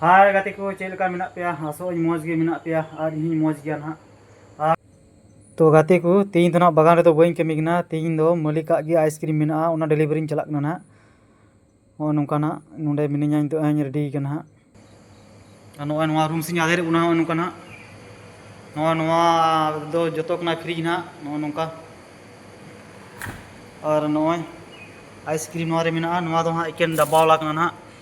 ᱦᱟᱭ ᱜᱟᱛᱮ ᱠᱚ ᱪᱮᱫ ᱞᱮᱠᱟ ᱢᱮᱱᱟᱜ ᱯᱮᱭᱟ ᱟᱥᱚᱜ ᱟᱹᱧ ᱢᱚᱡᱽ ᱜᱮ ᱢᱮᱱᱟᱜ ᱯᱮᱭᱟ ᱟᱨ ᱤᱧᱦᱚᱸᱧ ᱢᱚᱡᱽ ᱜᱮᱭᱟ ᱱᱟᱦᱟᱜ ᱟᱨ ᱛᱚ ᱜᱟᱛᱮ ᱠᱚ ᱛᱮᱦᱮᱧ ᱫᱚ ᱱᱟᱦᱟᱜ ᱵᱟᱜᱟᱱ ᱨᱮᱫᱚ ᱵᱟᱹᱧ ᱠᱟᱹᱢᱤ ᱠᱟᱱᱟ ᱛᱮᱦᱮᱧ ᱫᱚ ᱢᱟᱹᱞᱤᱠᱟᱜ ᱜᱮ ᱟᱭᱤᱥᱠᱨᱤᱢ ᱢᱮᱱᱟᱜᱼᱟ ᱚᱱᱟ ᱰᱮᱞᱤᱵᱷᱟᱨᱤᱧ ᱪᱟᱞᱟᱜ ᱠᱟᱱᱟ ᱱᱟᱦᱟᱜ ᱱᱚᱜᱼᱚᱭ ᱱᱚᱝᱠᱟ ᱱᱟᱦᱟᱜ ᱱᱚᱰᱮ ᱢᱤᱱᱟᱹᱧᱟ ᱱᱤᱛᱚᱜ ᱦᱟᱸᱜ ᱤᱧ ᱨᱮᱰᱤ ᱠᱟᱱᱟ ᱦᱟᱸᱜ ᱟᱨ ᱱᱚᱜᱼᱚᱭ ᱱᱚᱣᱟ ᱨᱩᱢ ᱥᱮᱧ ᱟᱫᱮᱨᱮᱫ ᱵᱚᱱᱟ ᱱᱚᱜᱼᱚᱭ ᱱᱚᱝᱠᱟ ᱱᱟᱦᱟᱜ ᱱᱚᱣᱟ ᱱᱚᱣᱟ ᱫᱚ ᱡᱚᱛᱚ ᱠᱟᱱᱟ ᱯᱷᱨᱤᱡᱽ ᱱᱟᱦᱟᱜ ᱱᱚᱜᱼᱚᱭ ᱱᱚᱝᱠᱟ ᱟᱨ ᱱᱚᱜᱼᱚᱭ ᱟᱭᱤᱥᱠᱨᱤᱢ ᱱᱚᱣᱟ ᱨᱮ ᱢᱮᱱᱟᱜᱼᱟ ᱱᱚᱣᱟ ᱫᱚ ᱦᱟᱸᱜ ᱮᱠᱮᱱ ᱰᱟᱵᱵᱟᱣᱟᱞᱟ ᱠᱟᱱᱟ ᱱᱟᱦᱟᱜ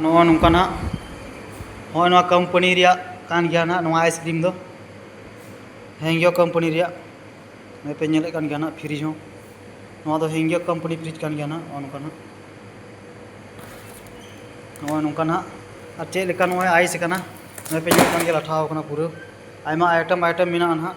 ᱱᱚᱜᱼᱚ ᱱᱚᱝᱠᱟ ᱱᱟᱜ ᱦᱚᱸᱜᱼᱚᱭ ᱱᱚᱣᱟ ᱠᱳᱢᱯᱟᱱᱤ ᱨᱮᱭᱟᱜ ᱠᱟᱱ ᱜᱮᱭᱟ ᱱᱟᱜ ᱱᱚᱣᱟ ᱟᱭᱤᱥᱠᱨᱤᱢ ᱫᱚ ᱦᱮᱝᱭᱳ ᱠᱳᱢᱯᱟᱱᱤ ᱨᱮᱭᱟᱜ ᱱᱚᱜᱼᱚᱭ ᱯᱮ ᱧᱮᱞᱮᱫ ᱠᱟᱱ ᱜᱮᱭᱟ ᱱᱟᱜ ᱯᱷᱨᱤᱡᱽ ᱦᱚᱸ ᱱᱚᱣᱟ ᱫᱚ ᱦᱮᱝᱭᱳ ᱠᱳᱢᱯᱟᱱᱤ ᱯᱷᱨᱤᱡᱽ ᱠᱟᱱ ᱜᱮᱭᱟ ᱱᱟᱜ ᱱᱚᱜᱼᱚ ᱱᱚᱝᱠᱟ ᱱᱟᱜ ᱱᱚᱜᱼᱚᱭ ᱱᱚᱝᱠᱟ ᱱᱟᱜ ᱟᱨ ᱪᱮᱫ ᱞᱮᱠᱟ ᱱᱚᱜᱼᱚᱭ ᱟᱭᱤᱥ ᱠᱟᱱᱟ ᱱᱚᱜᱼᱚᱭ ᱯᱮ ᱧᱮᱞᱮᱫ ᱠᱟᱱ ᱜᱮᱭᱟ ᱞᱟᱴᱷᱟᱣ ᱠᱟᱱᱟ ᱯᱩᱨᱟᱹ ᱟᱭᱢᱟ ᱟᱭᱴᱮᱢ ᱟᱭᱴᱮᱢ ᱢᱮᱱᱟᱜᱼᱟ ᱱᱟᱜ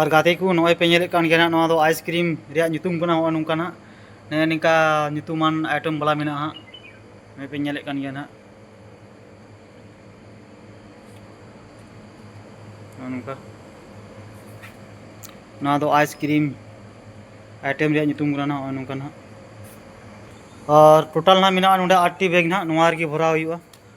ᱟᱨ ᱜᱟᱛᱮ ᱠᱚ ᱱᱚᱜᱼᱚᱭ ᱯᱮ ᱧᱮᱞᱮᱫ ᱠᱟᱱ ᱜᱮᱭᱟ ᱱᱟᱜ ᱱᱚᱣᱟ ᱫᱚ ᱟᱭᱤᱥᱠᱨᱤᱢ ᱨᱮᱭᱟᱜ ᱧᱩᱛᱩᱢ ᱠᱟᱱᱟ ᱱᱚᱜᱼᱚᱭ ᱱᱚᱝᱠᱟ ᱱᱟᱜ ᱱᱮᱜᱼᱮ ᱱᱤᱝᱠᱟ ᱧᱩᱛᱩᱢᱟᱱ ᱟᱭᱴᱮᱢ ᱵᱟᱞᱟ ᱢᱮᱱᱟᱜᱼᱟ ᱦᱟᱸᱜ ᱱᱚᱜᱼᱚᱭ ᱯᱮ ᱧᱮᱞᱮᱫ ᱠᱟᱱ ᱜᱮᱭᱟ ᱱᱟᱜ ᱱᱚᱜᱼᱚ ᱱᱚᱝᱠᱟ ᱱᱚᱣᱟ ᱫᱚ ᱟᱭᱤᱥᱠᱨᱤᱢ ᱟᱭᱴᱮᱢ ᱨᱮᱭᱟᱜ ᱧᱩᱛᱩᱢ ᱠᱟᱱᱟ ᱱᱚᱜᱼᱚᱭ ᱱᱚᱝᱠᱟ ᱱᱟᱜ ᱟᱨ ᱴᱳᱴᱟᱞ ᱱᱟᱜ ᱢᱮᱱᱟᱜᱼᱟ ᱱᱚᱰᱮ ᱟᱴᱴᱤ ᱵᱮᱜᱽ ᱱᱟᱜ ᱱᱚᱣᱟ ᱨᱮᱜᱮ ᱵᱷᱚᱨᱟᱣ ᱦᱩᱭᱩᱜᱼᱟ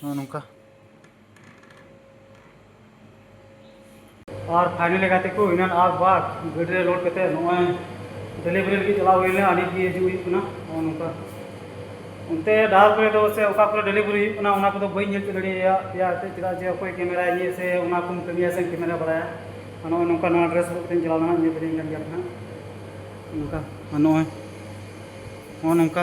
ᱱᱚᱜᱼᱚ ᱱᱚᱝᱠᱟ ᱟᱨ ᱯᱷᱟᱭᱱᱟᱞᱤ ᱜᱟᱛᱮ ᱠᱚ ᱤᱱᱟᱱ ᱟᱨ ᱵᱟᱨ ᱜᱟᱹᱰᱤ ᱨᱮ ᱞᱳᱰ ᱠᱟᱛᱮ ᱱᱚᱜᱼᱚᱭ ᱰᱮᱞᱤᱵᱷᱟᱨᱤ ᱞᱟᱹᱜᱤᱫ ᱪᱟᱞᱟᱣ ᱦᱩᱭ ᱞᱮᱱᱟ ᱟᱹᱰᱤ ᱜᱮ ᱦᱤᱡᱩᱜ ᱦᱩᱭᱩᱜ ᱠᱟᱱᱟ ᱱᱚᱜᱼᱚ ᱱᱚᱝᱠᱟ ᱚᱱᱛᱮ ᱰᱟᱦᱟᱨ ᱠᱚᱨᱮ ᱫᱚ ᱥᱮ ᱚᱠᱟ ᱠᱚᱨᱮ ᱰᱮᱞᱤᱵᱷᱟᱨᱤ ᱦᱩᱭᱩᱜ ᱠᱟᱱᱟ ᱚᱱᱟ ᱠᱚᱫᱚ ᱵᱟᱹᱧ ᱧᱮᱞ ᱪᱮᱫ ᱫᱟᱲᱮᱭᱟᱭᱟ ᱯᱮᱭᱟ ᱮᱱᱛᱮᱫ ᱪᱮᱫᱟᱜ ᱡᱮ ᱚᱠᱚᱭ ᱠᱮᱢᱮᱨᱟᱭ ᱤᱧᱟᱹ ᱥᱮ ᱚᱱᱟ ᱠᱚᱢ ᱠᱟᱹᱢᱤᱭᱟ ᱥᱮ ᱠᱮᱢᱮᱨᱟ ᱵᱟᱲᱟᱭᱟ ᱱᱚᱜᱼᱚᱭ ᱱᱚᱝᱠᱟ ᱱᱚᱣᱟ ᱰᱨᱮᱥ ᱦᱚᱨᱚᱜ ᱠᱟᱛᱮᱧ ᱪᱟᱞᱟᱣ ᱞᱮᱱᱟ ᱧᱮᱞ ᱫᱟᱲᱮᱭᱟᱹᱧ ᱠᱟᱱ ᱜᱮᱭᱟ ᱱᱟᱦᱟᱜ ᱱᱚᱝᱠᱟ ᱱᱚᱜᱼᱚᱭ ᱱᱚᱜᱼᱚ ᱱᱚᱝᱠᱟ